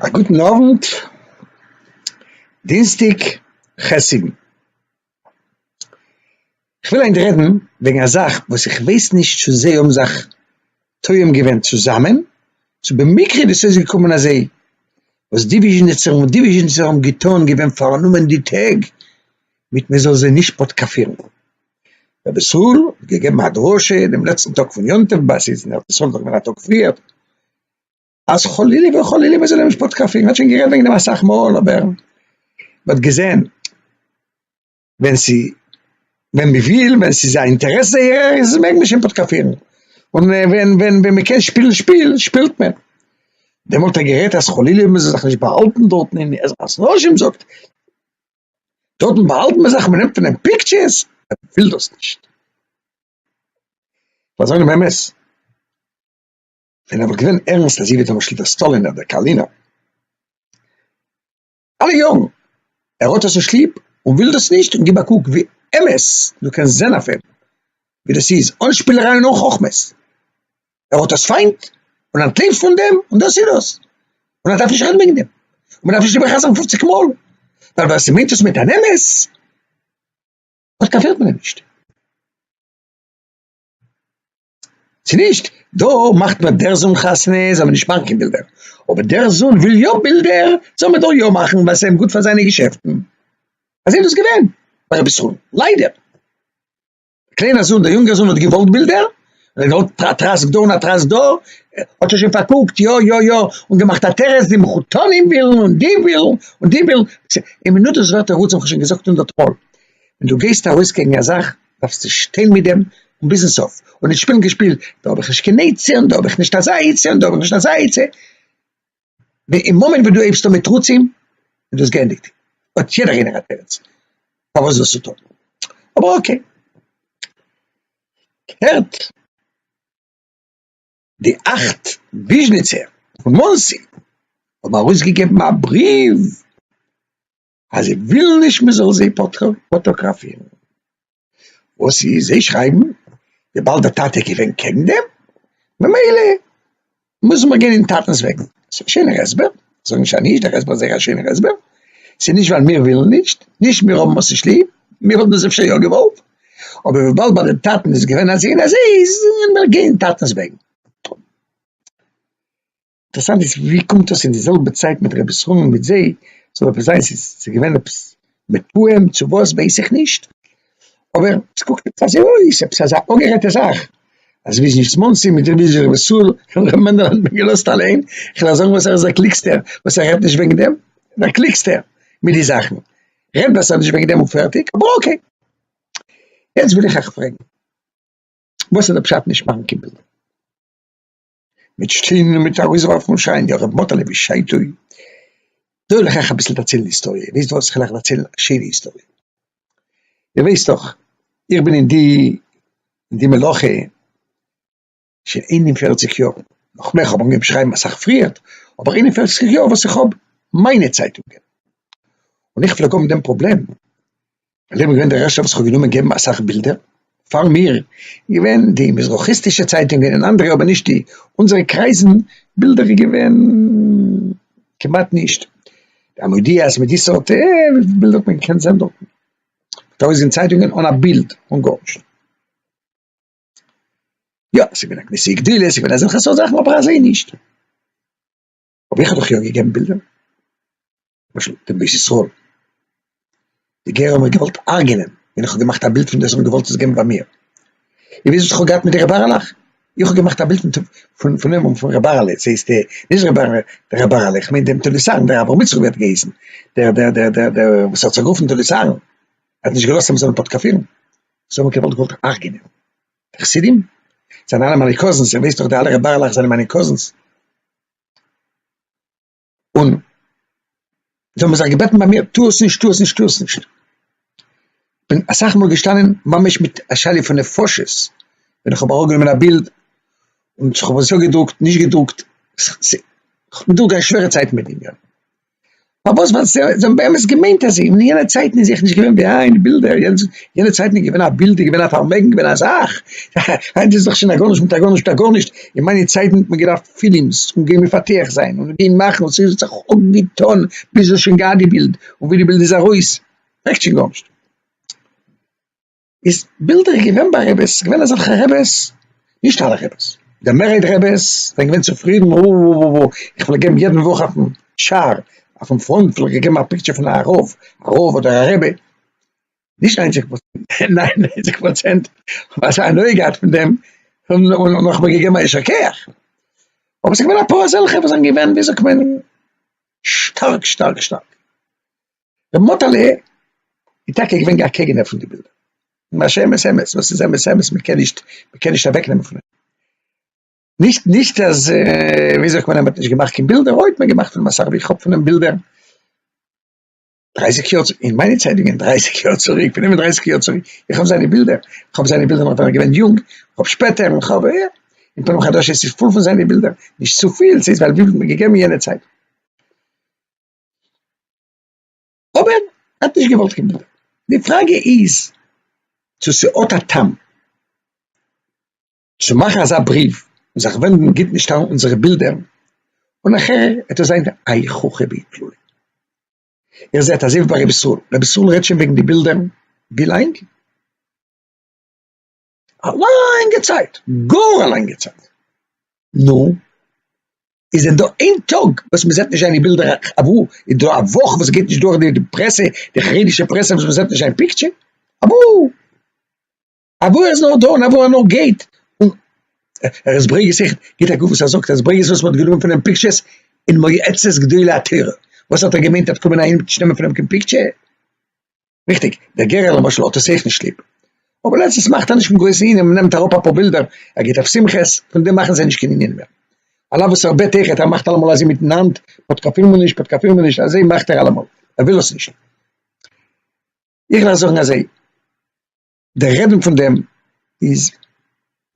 א גוטן אוונט, דינסטאג ח' סיוון, כ'וויל היינט רעדן וועגן א זאך וואס איך ווייס נישט צו זיי האבן זיך טועם געווען צוזאמען, צו במקרה איז עס אויסגעקומען אז זיי, וואס די וויזשניצער און די וויזשניצער האבן געטון, געווען פארנומען די טעג מיט מען זאל זיי נישט פאטקאפירן. רבי ישראל האט געגעבן א דרשה דעם לעצטן טאג פון יום טוב בעת איז אין ארץ ישראל דאך געווען א טאג פריער, אז חלילה וחלילה מען זאל אים נישט פאטקאפען, מען האט שוין גערעדט וועגן דעם אסאך מאל אבער מען האט געזען ווען ס'איז ווען מען וויל ווען ס'איז א אינטערעס זייערער איז מעג מען שוין פאטקאפירן און ווען ווען ווען מען קען שפילן שפיל שפילט מען, דעמאלט האט ער גערעדט אז חלילה מען זאל זיך נישט באהאלטן דארטן אין עזרת נשים זאגט. דארטן באהאלט מען זיך, מען נעמט פון אים פיקטשערס, ער וויל דאס נישט. פאר זיינע מעמעס, ווען ער וואלט געווען ערנסט אז זי וועט אים שליט א סטאלין אדער קארלינא, אלע יארן, ער האט דאס נישט ליב און וויל דאס נישט, און גיב א קוק ווי אמת דו קענסט זען אויף אים, ווי דאס איז אן שפילעריי און אן חכמות. ער האט דאס פיינט און אנטלעבט פון דעם, און דאס איז דאס, און ער דארף נישט רעדן וועגן דעם, און מען דארף נישט איבער חזר'ן פופציג מאל, ווייל ווער ס'מיינט עס מיט אן אמת, דארט קאפירט מען אים נישט. צו נישט, דא מאכט מען דער זון חתונה זאל מען נישט מאכן קיין בילדער, אבער דער זון וויל יא בילדער, זאל מען דא יא מאכן, ווייל ס'איז אים גוט פאר זיינע געשעפטן. אזוי איז דאס געווען ביי רבי יששכר'ן, ליידער. קליינער זון, דער יונגער זון האט געוואלט בילדער, ער האט געוואלט א טראסק דא און א טראסק דא, האט ער שוין פארקוקט, יא יא יא, און געמאכט א תירוץ, די מחותנים ווילן און די ווילן און די ווילן, אין מינוט דאס ווערט תירוץ האב איך שוין געזאגט הונדערט מאל, ווען דו גייסט ארויס קעגן א זאך, דארפסטו שטיין מיט דעם און ביזן סוף, און נישט שפילן קיין שפיל, דא האב איך נישט קיין עצה און דא האב איך נישט אזא עצה און דא האב איך נישט אזא עצה. ווען אין מאמענט וואס דו הייבסט אן מיט תרוצים איז דאס גענדיגט, האט יעדער איינער א תירוץ פארוואס זאלסט צו טון, אבער אקעי, הערט די אכט וויזשניצער פון מאנסי האבן ארויסגעגעבן א בריוו. אז זיי ווילן נישט מען זאל זיי פאטאגראפירן, וואס איז זיי שרייבן וויבאלד די טאטע איז געווען קעגן דעם, ממילא מוזן מיר גיין אין טאטענס וועגן, ס'איז א שענער הסבר, זאג נישט אז נישט, דער הסבר איז זייער א שענער הסבר, ס'איז נישט ווייל מיר ווילן נישט, נישט מיר האבן עס נישט ליב, מיר וואלטן עס אפשר יא געוואלט, אבער וויבאלד ביי די טאטן איז געווען אזוי און אזוי, זאלן מיר גיין טאטענס וועגן. אינטערסאנט איז ווי קומט אויס אין די זעלבע צייט מיט רבי ישראל און מיט זיי זאל עפעס זיין ס'איז ס'איז געווען עפעס מתואם צו וואס ווייס איך נישט אבער ס'קוקט עפעס אזוי אויס עפעס אזא אפגערעדטע זאך אז וויזניץ מאנסי מיט רבי ישראל און ר' מענדל האט מען געלאזט אליין כ'וועל זאגן וואס ער איז א קלוגסטער וואס ער רעדט נישט וועגן דעם דער קלוגסטער מיט די זאכן רעדט בעסער נישט וועגן דעם און פערטיג אבער אקעי יעצט וויל איך אייך פרעגן וואס איז די פשט נישט מאכן קיין בילדער? מיט שטיין און מיט ארויסווארפן שיין די הרב מאטעלע ווי שיין טוי דא וועל איך אייך אביסל דערציילן היסטאריע איר וויסט וואס איך וועל אייך דערציילן א שיינע היסטאריע איר ווייסט דאך איך בין אין די אין די מלאכה שוין איין און פערציג יאר נאך מער איך האב אנגעהויבן שרייבן אסאך פריער אבער איין און פערציג יאר וואס איך האב מיינע צייטונגען און איך פלעג האבן דעם פראבלעם און איך בין געווען דער ערשטער וואס איך האב גענומען געבן אסאך בילדער, פאר מיר געווען די מזרחי'סטישע צייטונגען און אנדערע אבער נישט די אונזערע קרייזן, בילדער איז געווען כמעט נישט, די המודיע'ס מיט די סארט בילדער האט מען געקענט זען דארטן, מ'האט ארויסגעגעבן צייטונגען אן א בילד, אן גארנישט. יא, ס'איז געווען א געוויסע גדילות, ס'איז געווען אזעלכע סארט זאכן אבער אזוי נישט. אבער איך האב דאך יא געגעבן בילדער, למשל דעם בית ישראל, די גערער האבן מיך געוואלט הרג'נען ווען איך האב געמאכט א בילד פון דאס, זיי האבן געוואלט עס געבן פאר מיר, און וויאזוי איך האב געהאט מיט די ר' בערעלעך, איך האב געמאכט א בילד פון פון אים און פון ר' בערעלע, צו איז די, נישט ר' בערעלע, דער ר' בערעלע, איך מיין דעם תולדות אהרן, דער אברהם יצחק ווי האט געהייסן, דער דער דער דער דער וואס האט זיך גערופן תולדות אהרן, ער האט נישט געלאזט אז מען זאל אים פאטקאפירן, זיי האבן געוואלט געוואלט הרג'נען די חסידים, זיי זענען אלע מיינע קאזינס, איך ווייס דאך די אלע ר' בערעלעך זענען מיינע קאזינס. און זיי האבן זיך געבעטן ביי מיר, טו עס נישט, טו עס נישט, טו עס נישט. כ'בין אסאך מאל געשטאנען ממש מיט א שאלה פון נפשות, ווען איך האב אראפגענומען א בילד און איך האב עס יא געדרוקט, נישט געדרוקט, כ'בין דורכגעגאנגען שווערע צייטן מיט דעם ענין. פארוואס ווייל זיי האבן באמת געמיינט אז אין יענע צייטן איז זיכער נישט געווען ווי היינט בילדער, יענע צייטן איז געווען א בילד איז געווען א פארמעגן געווען א זאך, היינט איז דאך שוין א גארנישט מיט א גארנישט א גארנישט, אין מיינע צייטן האט מען געדארפט פילם'ס און געבן מפתח זיין און געבן מאכן און ס'איז זיך אנגעטון ביז מ'האט שוין געהאט די בילד און ווי די בילד איז ארויס מעגסט שוין גארנישט. איז בילדער איז געווען ביי רעבעס, ס'איז געווען אזעלכע רעבעס, נישט אלע רעבעס, די מערהייט רעבעס זענען געווען צופרידן, אאאאאאא, איך פלעג געבן יעדן וואך אויפן שער, אויפן פראנט פלעג איך געבן א פיקטשער פון א רב, א רב אדער א רבי, נישט ניינציג פראצענט, ניין ניינציג פראצענט האבן אזא הנאה געהאט פון דעם, און און נאך מיר געגעבן א יישר כח, אבער ס'איז געווען אפאר אזעלכע וואס זענען געווען ווי זאגט מען שטארק שטארק שטארק. רבי מאטעלע איז טאקע געווען א קעגנער פון די בילדער, ממש אמת אמת, וואס איז אמת אמת, מען קען נישט, מען קען נישט אוועק נעמען פון אים, נישט נישט אז ווי זאגט מען אז מען האט נישט געמאכט קיין בילדער, אוי האט מען געמאכט פון אים אסאך, ווי איך האב פון אים בילדער דרײַסיק יאר צוריק, אין מיינע צייטונגען דרײַסיק יאר צוריק, פון איבער דרײַסיק יאר צוריק, איך האב זיינע בילדער, איך האב זיינע בילדער נאך ווען ער איז געווען יונג, איך האב שפעטער, איך האב יא, אין פנים חדשות איז פול פון זיינע בילדער, נישט צופיל, ס'איז ווייל ווי מען האט געגעבן יענע צייט. אבער ער האט נישט געוואלט קיין בילדער, די פראגע איז צו ס'האט א טעם צו מאכן אזא בריוו און זיך ווענדן גיט נישט אריין אונזערע בילדער און נאכער וועט עס זיין איי חוכא ואיטלולא. איר זעט אזוי ווי ביי ר' ישראל, ר' ישראל רעדט שוין וועגן די בילדער ווי לאנג? א לאנגע צייט, גאר א לאנגע צייט, נו, איז דען דא איין טאג וואס מ'זעט נישט זיינע בילדער, אוואו איז דא א וואך וואס גייט נישט דורך די פרעסע, די חרדישע פרעסע וואס מ'זעט נישט זיין פיקטשער, אוואו? אוואו ער איז נאר דא און אוואו ער נאר גייט, און ר' ברעגעס איך גיט א גוף וואס ער זאגט אז ברעגעס וואס מ'האט גענומען פונעם פיקטשערס אין מועצת גדולי התורה, וואס האט ער געמיינט ער וועט קומען אהיים נישט נעמען פונעם קיין פיקטשער? ריכטיג, דער גערער למשל האט עס אויך נישט ליב. אבער לעצטנס מאכט ער נישט קיין גרויסע ענינים, נעמט אראפ אפאר בילדער, ער גייט אויף שמחות, פון דעם מאכן זיי נישט קיין ענינים מער. על אף וואס ער בעט אויכעט, ער מאכט אלעמאל אזוי מיטן האנט, פאטקאפיל מיר נישט, פאטקאפיל מיר נישט, אזוי מאכט ער אלעמאל, ער וויל עס נישט. איך וועל זאגן אזוי, דער רעדן פון דעם איז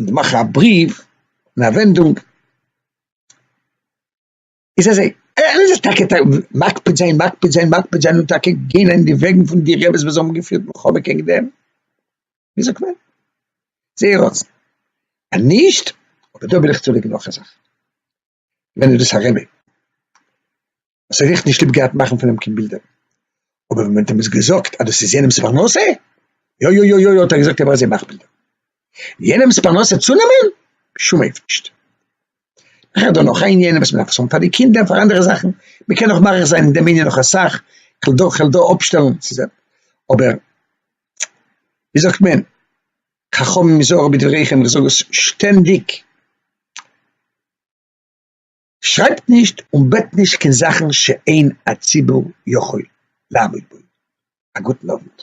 מאכן א בריוו און א ווענדונג, איז אזוי, ער איז טאקע מקפיד זיין מקפיד זיין מקפיד זיין און טאקע גיין אין די וועגן פון די רעבעס וואס האבן געפירט מלחמה קעגן דעם, ווי זאגט מען, זייער רצון, אז נישט, אבער דא וויל איך צולייגן נאך א זאך, ווען איז דאס א רבי וואס ער רעכט נישט ליב געהאט מאכן פון אים קיין בילדער, אבער ווען מען האט אים עס געזאגט אז דאס איז יענעמ'ס פרנסה, יו יו יו יו יו האט ער געזאגט ער וועל זיי מאכן בילדער, יענעמ'ס פרנסה צונעמען? בשום אופן נישט. איך הער דא נאך א ענין וואס מען דארף עס האבן פאר די קינדער און פאר אנדערע זאכן, מען קען נאך מאריך זיין אין דעם ענין נאך אסאך, כ'וועל דא כ'וועל דא אפשטעלן, ס'איז א אבער ווי זאגט מען, חכמים היזהרו בדבריכם, איך זאג עס שטענדיג, שרייבט נישט און בעט נישט קיין זאכן שאין הציבור יכול לעמוד בו. א גוטן אוונט.